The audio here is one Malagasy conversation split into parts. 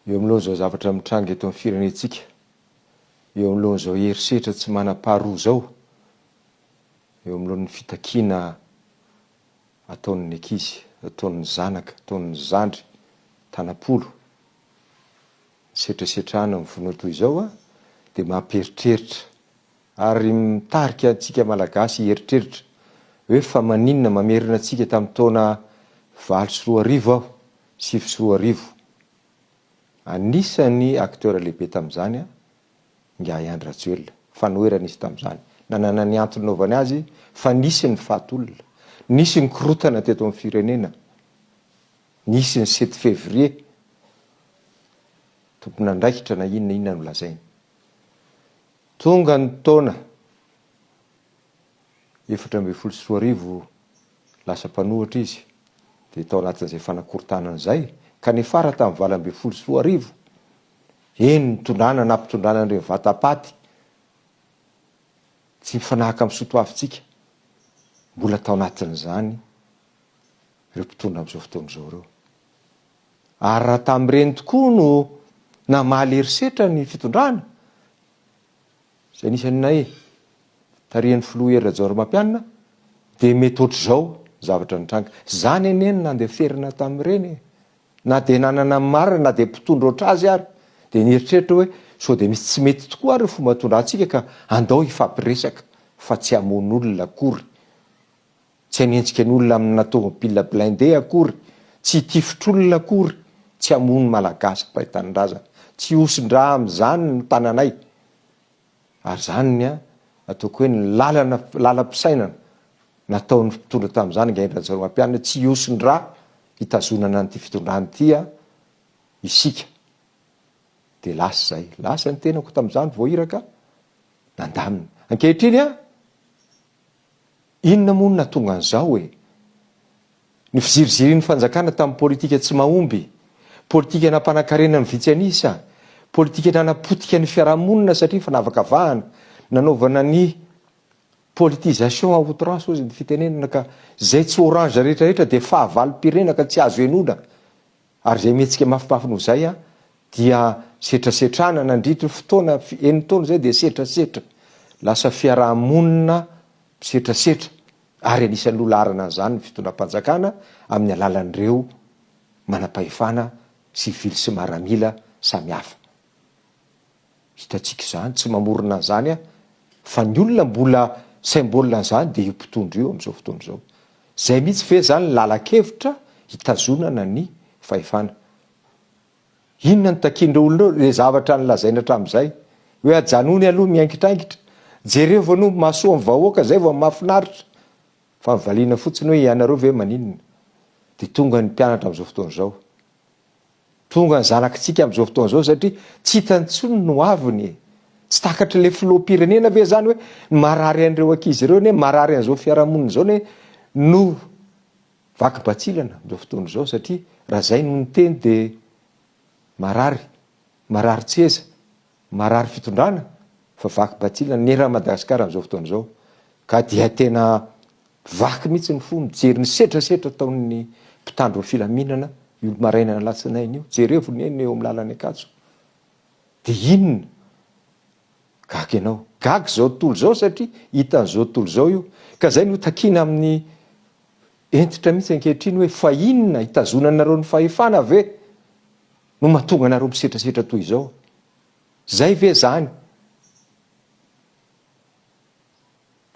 Eo anoloan'izao zavatra mitranga eto amin'ny firenentsika, eo anoloan'izao herisetra tsy manam-paharoa izao, eo anoloan'ny fitakiana ataon'ny ankizy, ataon'ny zanaka, ataon'ny zandry, tanam-polo, ny setrasetrana mivonoa toy izao dia mampieritreritra ary mitarika antsika Malagasy hieritreritra hoe fa maninona mamerina antsika tamin'ny taona valo sy roa arivo aho sivy sy roa arivo. Anisan'ny acteurs lehibe tamin'izany ingahy Andry Rajoelina. Fanoherana izy tamin'izany. Nanana ny antony naovany azy fa nisy ny faty olona. Nisy ny korotana teto amin'ny firenena. Nisy ny sept février. Tompon'andraikitra na inona inona no lazainy. Tonga ny taona efatra ambin'ny folo sy roa arivo lasa mpanohitra izy dia tao anatin'izay fanakorontanana izay ka niafara tamin'ny valo ambin'ny folo sy roa arivo, eny nitondrana nampitondrana an'ireny vatapaty tsy mifanahaka amin'ny soatoavintsika, mbola tao anatin'izany ireo mpitondra amin'izao fotoana izao ireo. Ary raha tamin'ireny tokoa no namaly herisetra ny fitondrana, izay anisan'ny nahe, tarihan'ny filoha Hery Rajaonarimampianina, dia mety ohatr'izao ny zavatra nitranga. Izany anie no nandeferana tamin'ireny e! Na dia nanana ny marina na dia mpitondra ohatr'azy ary, dia nieritreritra hoe sao dia misy tsy mety tokoa ary ny fomba nitondrantsika ka andao hifampiresaka fa tsy hamono olona akory. Tsy hanenjika ny olona amina tomobil blindé akory, tsy hitifitr'olona akory, tsy hamono ny Malagasy mpay tanindrazana. Tsy hihosin-dra amin'izany ny tananay. Ary izany ny ataoko hoe ny lalana, lalam-pisainana nataon'ny mpitondra tamin'izany Ingahy Rajaonarimampianina, tsy hihosin-dra hitazonana an'ity fitondrana ity isika. Dia lasa izay. Lasa ny tenako tamin'izany vao iraka, nandamina. Ankehitriny an! Inona moa no nahatonga an'izao e? Ny fizirizirin'ny fanjakana tamin'ny politika tsy mahomby, politika nampanankarena ny vitsy an'isa, politika nanapotika ny fiarahamonina satria fanavakavahana, nanaovana ny politisation à outrance hozy ny fitenenana ka izay tsy orange rehetra rehetra dia fahavalom-pirenena ka tsy azo henoina Ary izay mihetsika mafimafy noho izay dia setrasetrana, nandritry ny fotoana enina taona izay dia setrasetra, lasa fiaraha-monina misetrasetra, ary anisan'ny loha laharana an'izany ny fitondram-panjakana amin'ny alalan'ireo manam-pahefana sivily sy maramila samihafa. Hitantsika izany, tsy mamorona an'izany aho, fa ny olona mbola symbole an'izany dia io mpitondra io amin'izao fotoana izao. Izay mihitsy ve izany ny lalan-kevitra hitazonana ny fahefana? Inona no takian'ireo olona ireo? Ilay zavatra nolazainy hatramin'izay hoe ajanony aloha miangitrangitra, jereo vao no mahasoa ny vahoaka, izay vao mahafinaritra. Fa ny valiana fotsiny hoe ianareo ve maninona? Dia tonga ny mpianatra amin'izao fotoana izao. Tonga ny zanakitsika amin'izao fotoana izao satria tsy hitany intsony ny hoaviny e! Tsy takatr'ilay filoham-pirenena ve izany hoe ny marary an'ireo ankizy ireo anie, marary an'izao fiarahamonina izao anie no vaky batsilana amin'izao fotoana izao satria raha izay no niteny dia marary, marary tseza Marary fitondrana fa vaky batila ny ra Madagascar amin'izao fotoana izao ka dia tena vaky mihitsy ny fo mijery ny setrasetra ataon'ny mpitandro ny filaminana io maraina alatsinainy io jerevo neny eo amin'ny lalan'ny ankatso de inona gaga ianao gaga izao tontolo izao satria hitan'izao tontolo izao io ka zay no takina amin'ny entitra mihitsy ankehitriny hoe fa inona hitazonanareo ny fahefana ve no mahatonga anareo misetrasetra toy izao? Zay ve zany?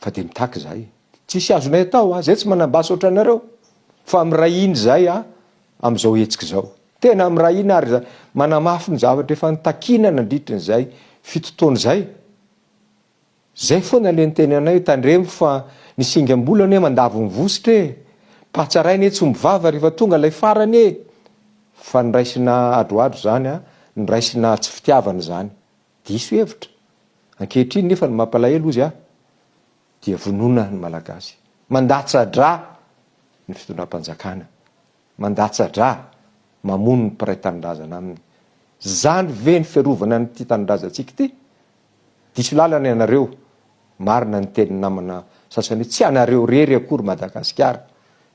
Fa dia mitaky zahay. Tsisy azonay atao a, zay tsy manam-basy ohatranareo. Fa miray hina izahay a, amin'izao hetsika izao. Tena miray hina ary manamafy ny zavatra efa nitakiana nandritry ny izay fito taona izay. Zay foana le niteny anay tandremo fa ny singam-bola anie mandavo ny vositra e! Patsaraina etsy omby vava rehefa tonga lay farany e! Fa ny raisina adroadro zany an, ny raisina tsy fitiavana zany. Diso hevitra. Ankehitriny nefa ny mampalahelo ozy an, dia vonona ny malagasy. Mandatsa-dra ny fitondram-panjakana. Mandatsa-dra, mamono ny mpiray tanindrazana aminy. Zany ve ny fiarovana an'ity tanindrazantsika ity? Diso lalana ianareo, marina ny tenin'ny namana sasany hoe tsy anareo rery akory Madagasikara,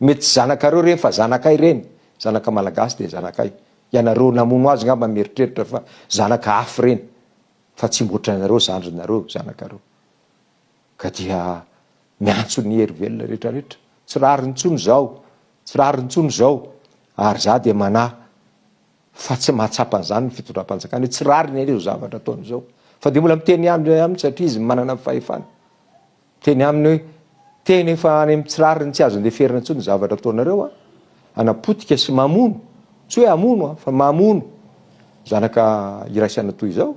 mety tsy zanakareo reny fa zanakay reny, zanaka malagasy dia zanakay, ianareo namono azy ngamba mieritreritra fa zanaka haf reny fa tsy mboatranareo zandrinareo zanakareo ka dia miantso ny hery velona retraretra tsy rariny tsony zao tsy rariny tsony zao ary za dia manahy fa tsy mahatsapa an'izany ny fitondram-panjakana hoe tsy rariny anie izao zavatra ataony izao fa dia mbola miteny ihany indray aminy satria izy manana ny fahefana miteny aminy hoe teny efa any amin'ny tsy rariny tsy azo andeferina intsony ny zavatra ataonareo a anapotika sy mamono tsy hoe amono a fa mamono zanaka iraisana toy izao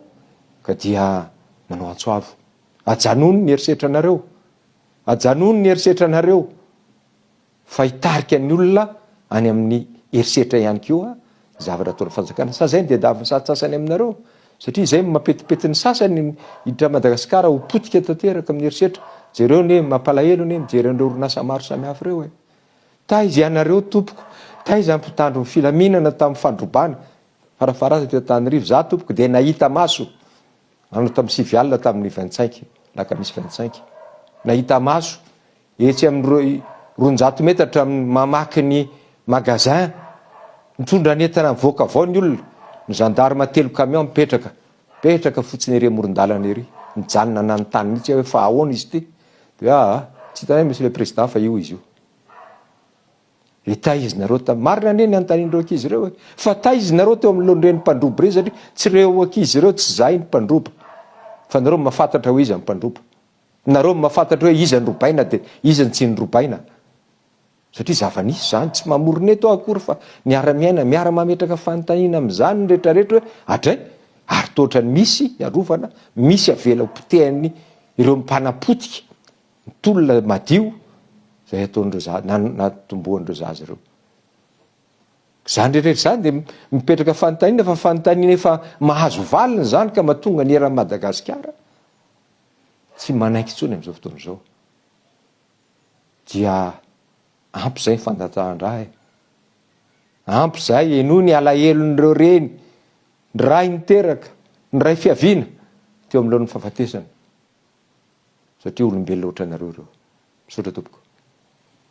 ka dia manao antso avo ajanony ny herisetranareo ajanony ny herisetranareo Fa hitarika ny olona any amin'ny herisetra ihany koa ny zavatra ataon'ny fanjakana. Sa zay ny diadavin'ny satsasany aminareo? Satria zay mampetipety ny sasany ny hiditra Madagasikara ho potika tanteraka amin'ny herisetra. Jereo anie, mampalahelo anie mijery an'ireo orinasa maro samihafa ireo e! Taiza ianareo tompoko? Taiza ny mpitandro ny filaminana tamin'ny fandrobana? Farafaharany teto Antananarivo, za tompoko dia nahita maso anao tamin'ny sivy alina tamin'ny vingt cinq, alakamisy vingt cinq. Nahita maso. Etsy amin'ny roanjato metatra amin'ny mamaky ny magasin mitondra ny entana mivoaka avao ny olona. Ny gendarme telo camion mipetraka, mipetraka fotsiny ery amoron-dalana ery, mijanona nanontany mihitsy aho hoe fa ahoana izy ity? Dia hoe aa, tsy hitanay monsieur le président fa io izy io. Dia taiza nareo tamin'ny, marina anie ny anontanian'ireo ankizy ireo hoe fa taiza nareo teo anoloan'ireny mpandroba ireny satria tsy ireo ankizy ireo, tsy izahay ny mpandroba fa nareo mahafantatra hoe iza ny mpandroba. Nareo no mahafantatra hoe iza norobaina dia iza no tsy norobaina satria zava-nisy izany. Tsy mamorona eto aho akory fa miara-miaina, miara-mametraka fanontaniana amin'izany ny rehetrarehetra hoe adray ary toa ohatran'ny misy hiarovana, misy avela ho potehan'ny ireo mpanapotika ny tolona madio izay ataon'ireo zaza, na natombohan'ireo zaza ireo. Izany rehetrarehetra izany dia mipetraka fanontaniana fa fanontaniana efa mahazo valiny izany ka mahatonga ny eran'i Madagasikara tsy manaiky intsony amin'izao fotoana izao dia ampy izay ny fandatsahan-dra e! Ampy izay e! Noho ny alahelon'ireo reny, ny ray niteraka, ny ray fiaviana teo amin'ny laon'ny fahafatesana satria olombelona ohatranareo ireo. Misaotra tompoko.